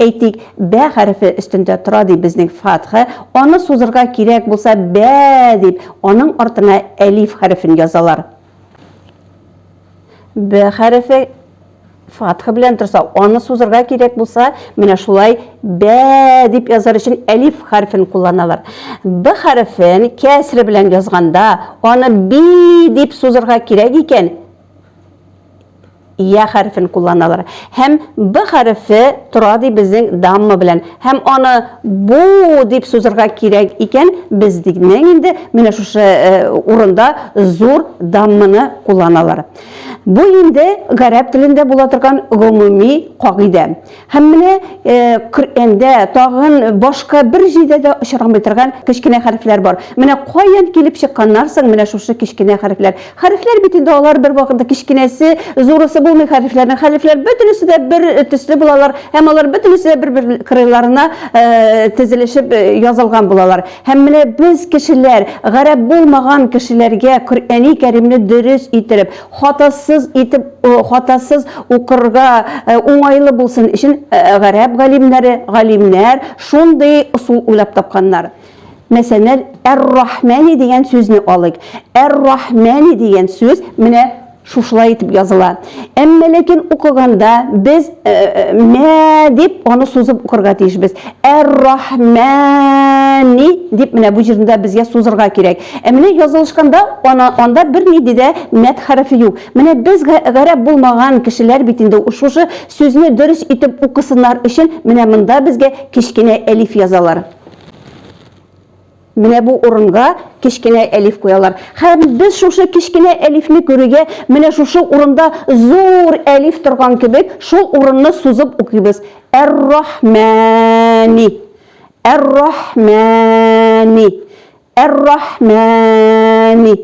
Әйтик, бә хәрефе өстендә тора ди безнең фатха, аны сузырга кирәк булса бә дип, аның артына әлиф хәрефен язалар. Б хәрефе фатха белән торса, аны сузырга кирәк булса, менә шулай бә дип язар өчен әлиф хәрефен кулланалар. Б хәрефен кәсре белән язганда, аны би дип сузырга кирәк икән, я хәрефен кулланалар. Һәм б хәрефе тора ди безнең дамма белән. Һәм аны бу дип сузырга кирәк икән, без дигнең инде менә шушы э, урында зур дамманы кулланалар. Бу инде гарәп телендә була торган гомуми кагыйдә. Һәм менә Коръәндә тагын башка бер җирдә дә очрамый торган кечкенә хәрефләр бар. Менә каян килеп чыкканнар соң менә шушы кечкенә хәрефләр. Хәрефләр бит инде алар бервакытта кечкенәсе, зурысы булмый хәрефләрнең. Хәрефләр бөтенесе дә бер төсле булалар һәм алар бөтенесе дә бер-бер кырыйларына тезелешеп язылган булалар. Һәм менә без кешеләр, гарәп булмаган кешеләргә Коръәни Кәримне дөрес иттереп, хатасыз итеп хатасыз укырга уңайлы булсын өчен гарәп галимнәре галимнәр шундый ысул уйлап тапканнар мәсәлән әр-рахмәни дигән сүзне алыйк әр-рахмәни дигән сүз менә шушылай итеп языла әмма ләкин укыганда без мә дип аны сузып укырга тиешбез әр-рахмәни дип менә бу җирдә безгә сузырга кирәк Ә менә язылышканда ана, анда бер ни дидә мәт хәрефе юк. Менә без гә гәрәп булмаган кешеләр бит инде шушы сүзне дөрес итеп укысыннар өчен менә монда безгә кечкенә әлиф язалар. Менә бу урынга кечкенә әлиф куялар. Хәм без шушы кечкенә әлифне күрүгә, менә шушы урында зур әлиф торган кебек, шул урынны сузып укыйбыз. Әр-рахмәни. Әр-рахмәни. Әр-Рахмәни.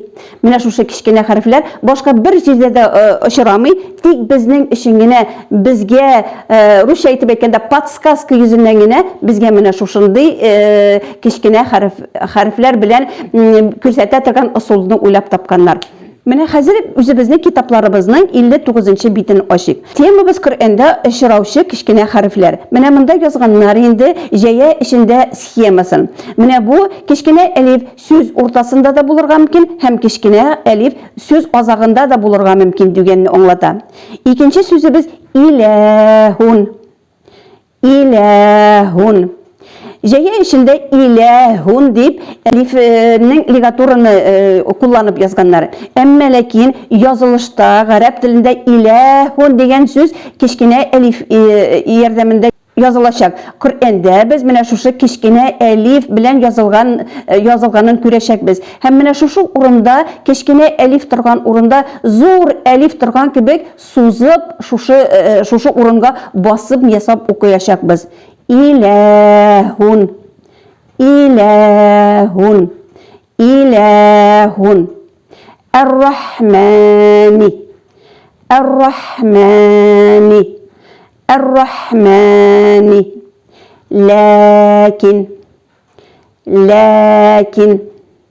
Менә шушы кечкенә хәрефләр башка бер җирдә дә э, очрамый, тик безнең өчен генә безгә э, русча әйтеп әйткәндә подсказка йөзеннән генә безгә менә шушындый э, кечкенә хәреф хәрефләр белән күрсәтә торган ысулны уйлап тапканнар. Менә хәзер үзебезнең китапларыбызның 59 нчы битен ачыйк. Темабыз Коръәндә очраучы кечкенә хәрефләр. Менә монда язганнар инде җәя эчендә схемасын. Менә бу кечкенә әлиф сүз уртасында да булырга мөмкин һәм кечкенә әлиф сүз азагында да булырга мөмкин дигәнне аңлата. Икенче сүзебез иләһун. Иләһун. Җәя эчендә иләһун дип әлифнең лигатураны кулланып язганнар. Әмма ләкин язылышта гарәп телендә иләһун дигән сүз кечкенә әлиф ярдәмендә язылачак. Коръәндә без менә шушы кечкенә әлиф белән язылган э, язылганын күрәчәкбез. Һәм менә шушы урында кечкенә әлиф торган урында зур әлиф торган кебек сузып, шушы, шушы урынга басып ясап укыячакбыз. Иләһун. Иләһун. Иләһун. Әр-Рахмани. Әр-Рахмани. Әр-Рахмани. Ләкин. Ләкин.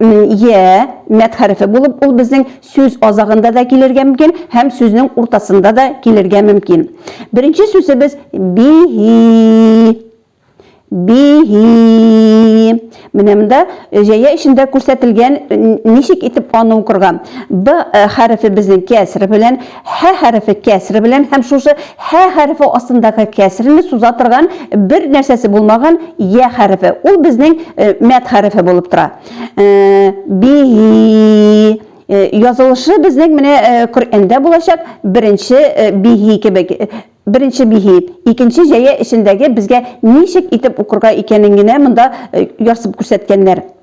Е, мәт хәрефе булып, ул безнең сүз азагында да килергә мөмкин һәм сүзнең уртасында да килергә мөмкин. Беренче сүзебез бихи. Бихи. Менә монда җәя эчендә күрсәтелгән ничек итеп аны укырга. Б хәрефе безнең кәср белән Һә хәрефе кәсре белән һәм шушы һә хәрефе астындагы кәсрене суза торган бер нәрсәсе булмаган йә хәрефе. Ул безнең мәд хәрефе булып тора. Бихи язылышы безнең менә Коръәндә булачак беренче бихи кебек. Беренче бихи, икенче җәя эчендәге безгә ничек итеп укырга икәнен генә монда ярсып күрсәткәннәр.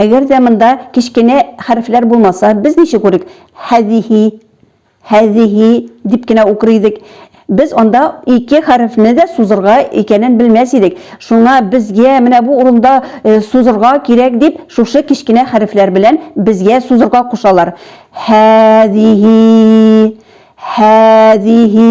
Әгәр дә монда кечкенә хәрефләр булмаса, без ничек укыйк? Һәзиһи, һәзиһи дип кенә укыр идек. Без анда ике хәрефне дә сузырга икәнен белмәс идек. Шуңа безгә менә бу урында э, сузырга кирәк дип, шушы кечкенә хәрефләр белән безгә сузырга кушалар. Һәзиһи, һәзиһи,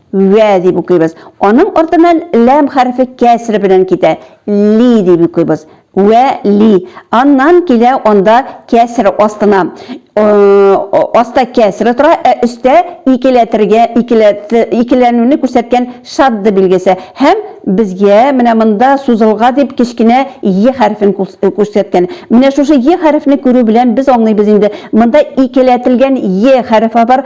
Вә дип укыйбыз. Аның артыннан ләм хәрефе кәсре белән китә. Ли дип укыйбыз. Вә ли. Аннан килә анда кәсре астына. Аста кәсре тора, ә өстә икеләтергә, икеләнүне күрсәткән шадда билгесе. Һәм безгә менә монда сузылга дип кечкенә е хәрефен күрсәткән. Менә шушы е хәрефне күрү белән без аңлыйбыз инде, монда икеләтелгән е хәрефе бар,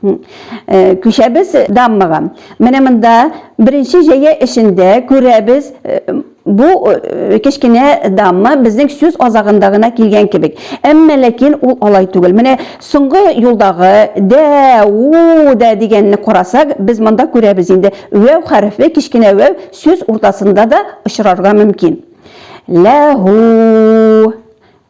Э, күчәбез даммага. Менә монда беренче җәя эшендә күрәбез э, бу э, кечкенә дамма безнең сүз азагында гына килгән кебек. Әмма ләкин ул алай түгел. Менә соңгы юлдагы дә, у дә дигәнне карасак, без монда күрәбез инде. Вәү хәрефе, кечкенә вәү сүз уртасында да очрарга мөмкин. Ләһу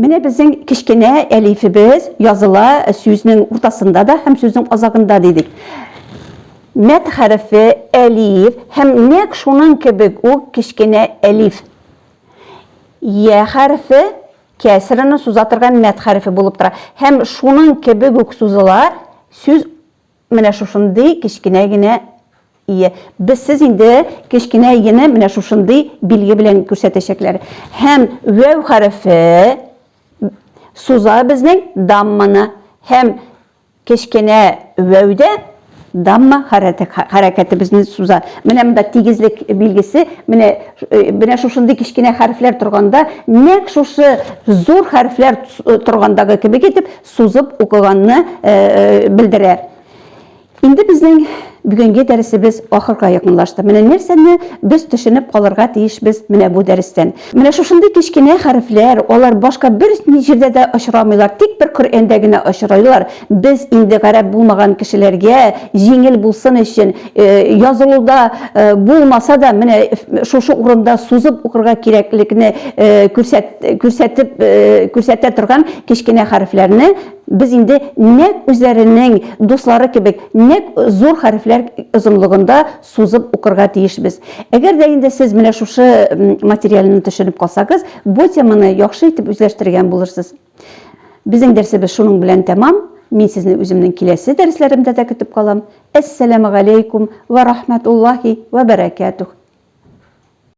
Менә безнең кечкенә әлифебез языла сүзнең уртасында да һәм сүзнең азагында дидек. Мәт хәрефе әлиф һәм нәк шуның кебек үк кечкенә әлиф. Я хәрефе кәсрәне суза торган мәт хәрефе булып тора һәм шуның кебек үк сузыла сүз Менә шушындый кечкенә генә ие. Без сез инде кечкенә иене менә шушындый билге белән күрсәтәчәкләр. Һәм вәү хәрефе суза безнең дамманы. Һәм кечкенә вәүдә дамма хәрәкәте безне суза. Менә монда тигезлек билгесе, менә менә шушындый кечкенә хәрефләр торганда, нәк шушы зур хәрефләр торгандагы кебек итеп сузып укыганны белдерә. Инде безнең бүгенге дәресебез ахырга якынлашты. Менә нәрсәне без төшенеп калырга тиешбез менә бу дәрестән. Менә шушындый кечкенә хәрефләр, алар башка бер җирдә дә очрамыйлар, тик бер Коръәндә генә очрыйлар. Без инде гарәп булмаган кешеләргә җиңел булсын өчен, Э, язылуда э, булмаса да менә э, шушы урында сузып укырга кирәклекне күрсәтеп күрсәтә торган кечкенә хәрефләрне без инде нәк үзләренең дуслары кебек нәк зур хәрефләр озынлыгында сузып укырга тиешбез әгәр дә инде сез менә шушы материалны төшенеп калсагыз бу теманы яхшы итеп үзләштергән булырсыз Безнең дәрсебез шуның белән тәмам. Мин сезне үземнең киләсе дәресләремдә дә көтеп калам. Әссәламегаләйкүм вә рахмәтуллаһи вә бәрәкәтүх.